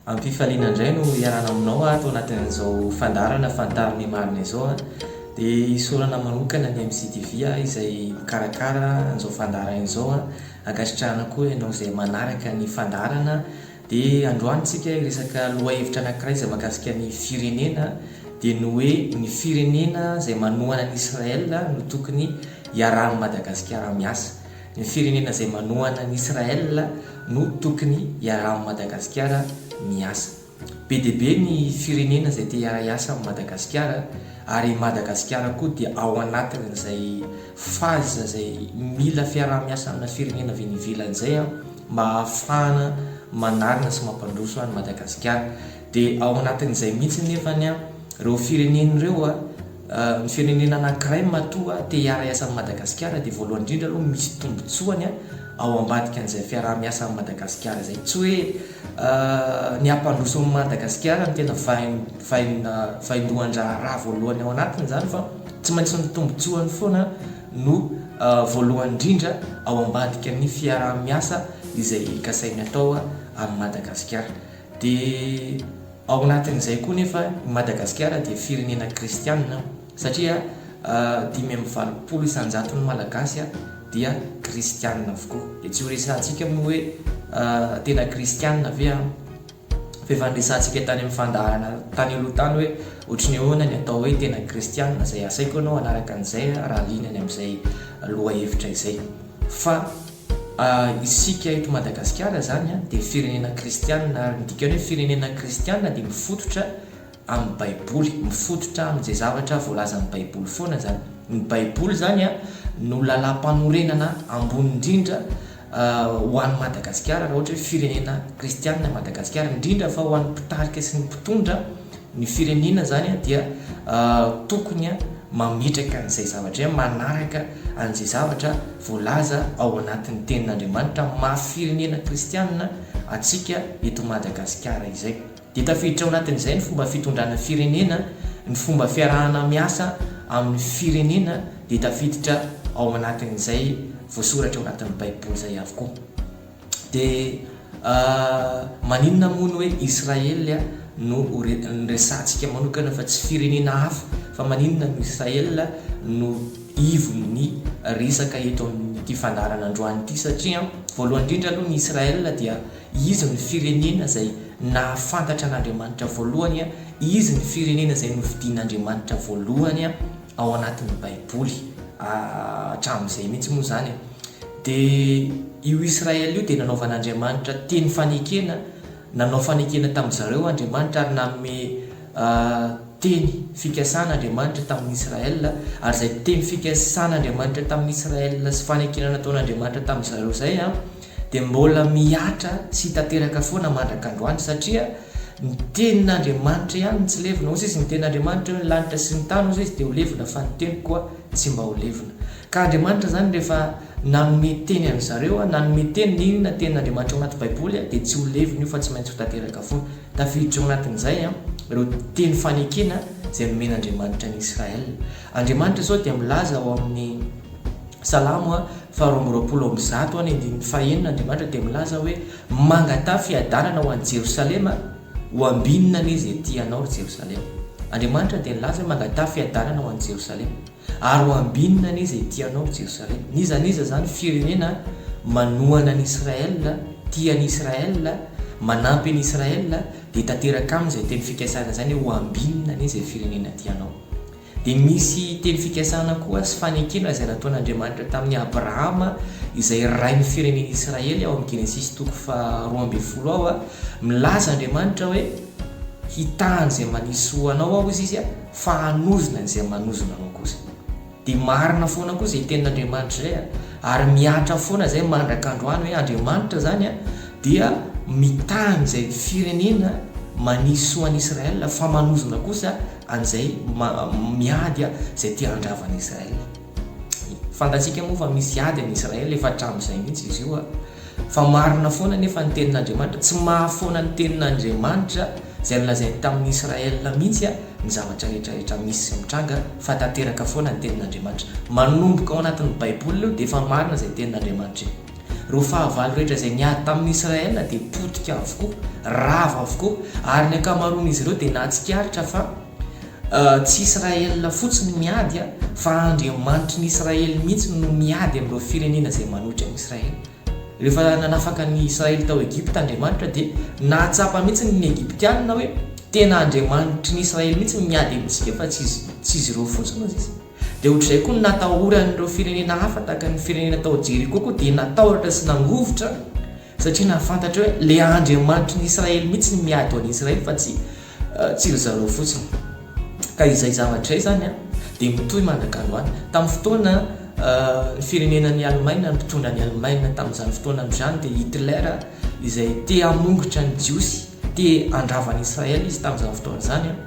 Am-pifaliana indray no hiarahana aminao ato anatin'izao fandaharana Fantaro ny marina izao a! Dia isaorana manokana ny MCTV a, izay mikarakara an'izao fandaharana izao a! Ankasitrahana koa ianao izay manaraka ny fandaharana. Dia androany tsika hiresaka lohahevitra anankiray izay mahakasika ny firenena, dia ny hoe ny firenena izay manohana an'i Israël no tokony hiarahan'i Madagasikara miasa. Ny firenena izay manohana an'i Israël no tokony hiaraha amin'i Madagasikara miasa. Be dia be ny firenena izay te hiara-hiasa amin'i Madagasikara ary i Madagasikara koa dia ao anatin'izay phase izay mila fiaraha-miasa amina firenena avy any ivelany izay mba hahafahana manarina sy mampandroso an'i Madagasikara. Dia ao anatin'izay mihitsy nefany ireo firenena ireo Ny firenena anankiray matoa te hiara-hiasa amin'i Madagasikara dia voalohany indrindra aloha misy tombontsoany ao ambadikan'izay fiaraha-miasa amin'i Madagasikara izay. Tsy hoe ny hampandroso an'i Madagasikara no tena vaindohan-draharaha voalohany ao anatiny izany fa tsy maintsy ny tombontsoany foana no voalohany indrindra ao ambadikan'ny fiaraha-miasa izay kasainy atao amin'i Madagasikara. Dia. Ao anatin'izay koa nefa i Madagasikara dia firenena kristianina satria dimy amby valopolo isan-jaton'ny Malagasy dia kristianina avokoa. Dia tsy ho resahantsika moa hoe tena kristianina ve an? Fa efa niresahantsika tany amin'ny fandaharana tany aloha tany hoe ohatry ny ahoana ny atao hoe tena kristianina izay asaiko ianao hanaraka an'izay raha liana ny amin'izay lohahevitra izay. Fa. Isika eto Madagasikara izany dia firenena kristianina ary ny dikan'ny hoe firenena kristianina dia mifototra amin'ny baiboly, mifototra amin'izay zavatra voalazan'ny baiboly foana izany. Ny baiboly izany no lalam-panorenana ambony indrindra ho an'i Madagasikara raha ohatra hoe firenena kristianina i Madagasikara, indrindra fa ho an'ny mpitarika sy ny mpitondra. Ny firenena zany dia tokony mametraka an'izay zavatra, manaraka an'izay zavatra voalaza ao anatin'ny tenin'Andriamanitra amin'ny maha firenena kristianina antsika eto Madagasikara izay. Dia tafiditra ao anatin'izay ny fomba fitondrana firenena, ny fomba fiarahana miasa amin'ny firenena dia tafiditra ao anatin'izay voasoratra ao anatin'ny baiboly izay avokoa. Dia maninona moa ny hoe Israely no resahantsika manokana fa tsy firenena hafa? Fa maninona no Israely no ivon'ny resaka eto amin'ity fandaharana androany ity? Satria voalohany indrindra aloha ny Israely dia izy no firenena izay nahafantatra an'Andriamanitra voalohany, izy ny firenena izay nofidian'Andriamanitra voalohany, ao anatin'ny baiboly hatramin'izay mihitsy moa izany e! dia io Israely io dia nanaovan'Andriamanitra teny fanekena, nanao fanekena tamin-dry zareo Andriamanitra ary nanome teny fikasana Andriamanitra tamin'i Israel, ary izay teny fikasan'Andriamanitra tamin'i Israel sy fanekena nataon'Andriamanitra tamin-dry zareo izay an, dia mbola mihatra sy hita teraka foana mandrak'androany satria ny tenin'Andriamanitra ihany no tsy levona, hoy sisa ny tenin'Andriamanitra hoe ny lanitra sy ny tany hoy sisa dia ho levona fa ny teniko koa tsy mba ho levona ka Andriamanitra izany rehefa nanome teny an'ny zareo a, nanome teny na inona tenin'Andriamanitra ao anaty baiboly a dia tsy ho levona io fa tsy maintsy ho tanteraka foana, tafiditra ao anatin'izay a ireo teny fanekena izay nomen'Andriamanitra an'i Israël, Andriamanitra izao dia milaza ao amin'ny. Salamo faharoa amby roapolo amby zato any andininy fahenina Andriamanitra dia milaza hoe mangataha fiadanana ho an'i Jerosalema ho ambinina anie izay tia anao ry Jerosalema Andriamanitra dia nilaza hoe mangataha fiadanana ho an'i Jerosalema ary ho ambinina anie izay tia anao ry Jerosalema n'iza n'iza izany firenena manohana an'i Israel tia an'i Israel manampy an'i Israel dia tanteraka aminy izay teny fikasana izany hoe ho ambinina anie izay firenena tia anao Dia misy teny fikasana koa sy fanekena izay nataon'Andriamanitra tamin'i Abrahama izay rain'ny firenen'i Israely ao amin'ny Genesisy toko faha roa ambin'ny folo ao a, milaza Andriamanitra hoe hitahan' izay manisy soa ho anao aho izy izy a, fa hanozona izay manozona anao kosa. Dia marina foana koa izay tenin'Andriamanitra izay a, ary mihatra foana izay mandraka androany hoe Andriamanitra izany a dia mitaha an'izay firenena manisy soa an'i Israel fa manozona kosa, an'izay miady izay te handrava an'i Israël. Fantatsika moa fa misy ady an'i Israël efa hatramin'izay mihitsy izy io. Fa marina foana nefa ny tenin'Andriamanitra, tsy mahafoana ny tenin'Andriamanitra izay nolazainy tamin'i Israël mihitsy ny zavatra rehetra rehetra misy sy mitranga fa tanteraka foana ny tenin'Andriamanitra. Manomboka ao anatin'ny baiboly io dia efa marina izay tenin'Andriamanitra io. Ireo fahavalo rehetra izay niady tamin'i Israël dia potika avokoa, rava avokoa, ary ny ankamaroan'izy ireo dia nahatsikaritra fa tsy Israël fotsiny no miady fa Andriamanitry ny Israël mihitsy no miady amin'ireo firenena izay manohitra an'i Israël. Rehefa nanafaka ny Israël tao Egypta Andriamanitra dia nahatsapa mihitsy ny Egyptiana hoe tena Andriamanitry ny Israël mihitsy no miady amintsika fa tsy izy ireo fotsiny hoy izy. Dia ohatr'izay koa ny natahoran'ireo firenena hafa tahaka ny firenena tao Jeriko koa dia natahotra sy nangovitra satria nahafantatra hoe le Andriamanitry ny Israely mihitsy ny miady ho an'i Israely fa tsy tsy ry zareo fotsiny. Ka izay zavatra izay izany an dia mitohy mandrak'androany. Tamin'ny fotoana ny firenenan'i Alemaina, ny mpitondra an'i Alemaina tamin'izany fotoana izany dia Hitler izay te hamongotra ny Jiosy, te handrava an'i Israely izy tamin'izany fotoana izany an.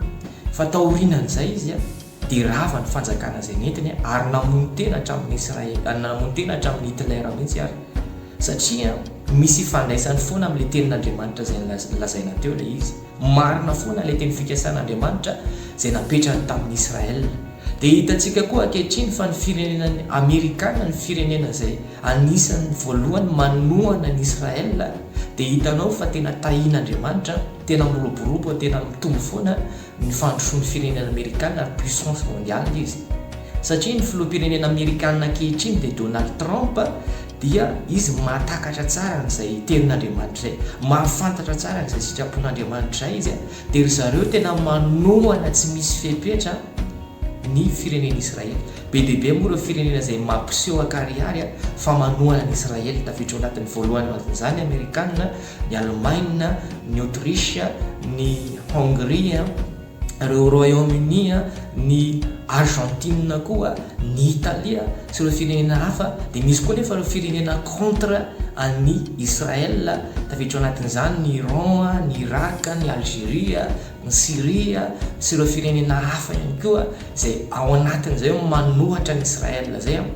Fa taorianan'izay izy an. dia rava ny fanjakana izay nentiny ary namono tena hatramin'ny Israely, namono tena hatramin'ny Hitler mihitsy ary, satria misy ifandraisany foana amin'ilay tenin'Andriamanitra izay nolazaina teo ilay izy. Marina foana ilay teny fikasan'Andriamanitra izay napetrany tamin'i Israel. Dia hitantsika koa ankehitriny fa ny firenena Amerikana ny firenena izay anisan'ny voalohany manohana an'i Israel, dia hitanao fa tena tahin'Andriamanitra, tena miroborobo, tena mitombo foana, ny fandrosoan'ny firenena amerikana ary puissance mondiale izy satria ny filoham-pirenena amerikana ankehitriny dia Donald Trump dia izy mahatakatra tsara an'izay tenin'Andriamanitra izay, mahafantatra tsara an'izay sitrapon'Andriamanitra izay izy dia ry zareo tena manohana tsy misy fepetra ny firenen'i Israely. Be dia be moa ireo firenena izay mampiseho an-karihary fa manohana an'i Israely, tafiditra ao anatin'ny voalohany ao anatin'izany ny Amerikana, ny Alemaina, ny Aotrisy, ny Hongria, ireo Royaume-Uni, ny Argentine koa, ny Italia sy ireo firenena hafa, dia misy koa anefa ireo firenena contre an'i Israël, tafiditra ao anatin'izany ny Iran, ny Irak, ny Algeria, ny Syria sy ireo firenena hafa ihany koa izay ao anatin'izay hoe manohatra an'i Israël izay an,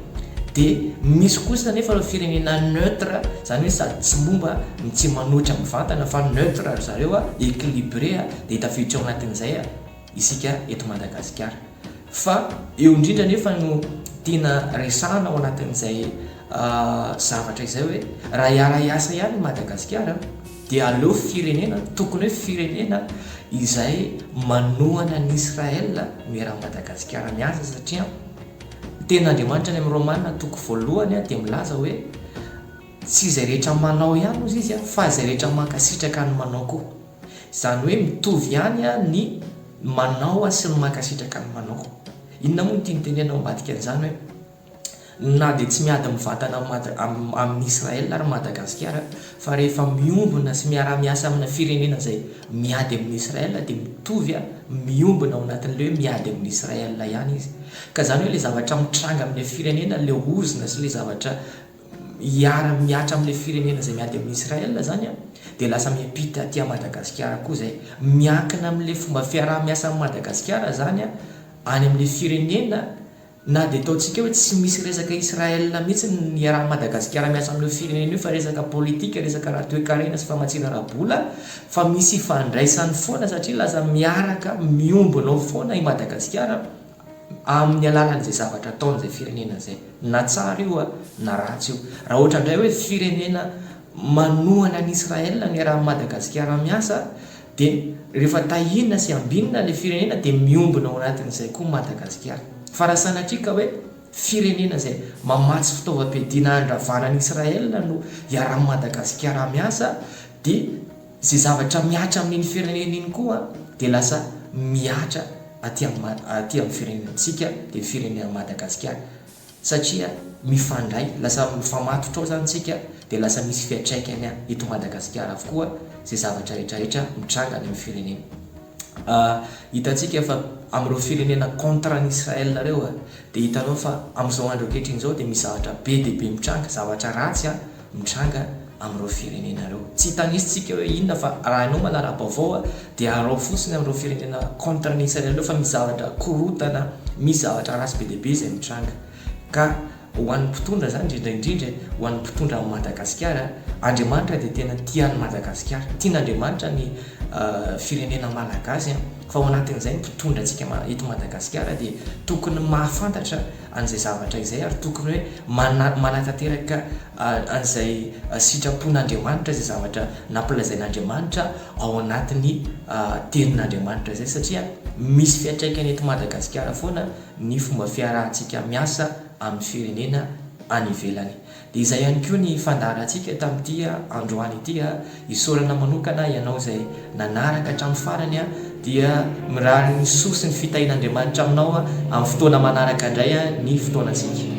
dia misy kosa anefa ireo firenena neutre, izany hoe sady tsy momba no tsy manohitra mivantana fa neutre ry zareo an, équilibré an, dia tafiditra ao anatin'izay an isika eto Madagasikara. Fa eo indrindra anefa no tiana resahana ao anatin'izay zavatra izay hoe raha hiara-hiasa ihany i Madagasikara, Dia aleo firenena tokony hoe firenena izay manohana an'i Israël no iarahan'i Madagasikara miasa satria ny tenin'Andriamanitra any amin'ny Romana toko voalohany dia milaza hoe tsy izay rehetra manao ihany ozy izy fa izay rehetra mankasitraka ny manao koa. Izany hoe mitovy ihany ny manao sy ny mankasitraka ny manao. Inona moa no tiany tenenina ao ambadika an'izany hoe. Na dia tsy miady mivatana amin'i Israël ary Madagasikara fa rehefa miombona sy miara-miasa amina firenena izay miady amin'i Israël dia mitovy miombona ao anatin'ilay hoe miady amin'i Israël ihany izy. Ka izany hoe ilay zavatra mitranga amin'ilay firenena, ilay ozona sy ilay zavatra hiara-mihatra amin'ilay firenena izay miady amin'i Israël izany an, dia lasa miampita aty Madagasikara koa izay. Miankina amin'ilay fomba fiaraha-miasan'i Madagasikara izany any amin'ilay firenena. Na dia ataontsika hoe tsy misy resaka Israël mihitsy ny iarahan'i Madagasikara miasa amin'io firenena io fa resaka politika, resaka ara-toekarena sy famatsiana ara-bola fa misy ifandraisany foana satria lasa miaraka miombona ao foana i Madagasikara amin'ny alalan'izay zavatra ataon'izay firenena izay. Na tsara io na ratsy io. Raha ohatra indray hoe firenena manohana an'i Israël no iarahan'i Madagasikara miasa Dia rehefa tahiana sy ambinina ilay firenena dia miombona ao anatin'izay koa Madagasikara. Fa raha sanatria ka hoe firenena izay mamatsy fitaovam-piadiana handravana an'i Israël no iarahan'i Madagasikara miasa dia izay zavatra mihatra amin'iny firenena iny koa dia lasa mihatra aty amin'ny firenentsika dia firenen'i Madagasikara. satria mifandray, lasa mifamatotra ao zany tsika dia lasa misy fiatraikany eto Madagasikara avokoa zay zavatra rehetra rehetra mitranga any amin'ny firenena hitantsika fa amin'ireo firenena contre an'i Israël ireo dia hitanao fa amin'izao andro ankehitriny izao dia misy zavatra be dia be mitranga, zavatra ratsy an! mitranga amin'ireo firenena ireo. Tsy hitanisa tsika hoe inona fa raha ianao manara-baovao dia arao fotsiny amin'ireo firenena contre ny Israel ireo fa misy zavatra korontana, misy zavatra ratsy be dia be izay mitranga. Ka ho an'ny mpitondra izany indrindra indrindra, ho an'ny mpitondra an'i Madagasikara, Andriamanitra dia tena tia an'i Madagasikara. Tian'Andriamanitra ny firenena malagasy fa ao anatin'izay ny mpitondra antsika eto Madagasikara dia tokony mahafantatra, an'izay zavatra izay ary tokony hoe mana manatanteraka an'izay sitrapon'Andriamanitra izay zavatra nampilazain'Andriamanitra ao anatin'ny tenin'Andriamanitra izay satria misy fiantraikany eto Madagasikara foana ny fomba fiarahantsika miasa amin'ny firenena any ivelany. Dia izay ihany koa ny fandaharantsika tamin'ity androany ity. Isaorana manokana ianao izay nanaraka hatramin'ny farany dia mirary ny soa sy ny fitahian'Andriamanitra aminao amin'ny fotoana manaraka indray ny fotoanantsika.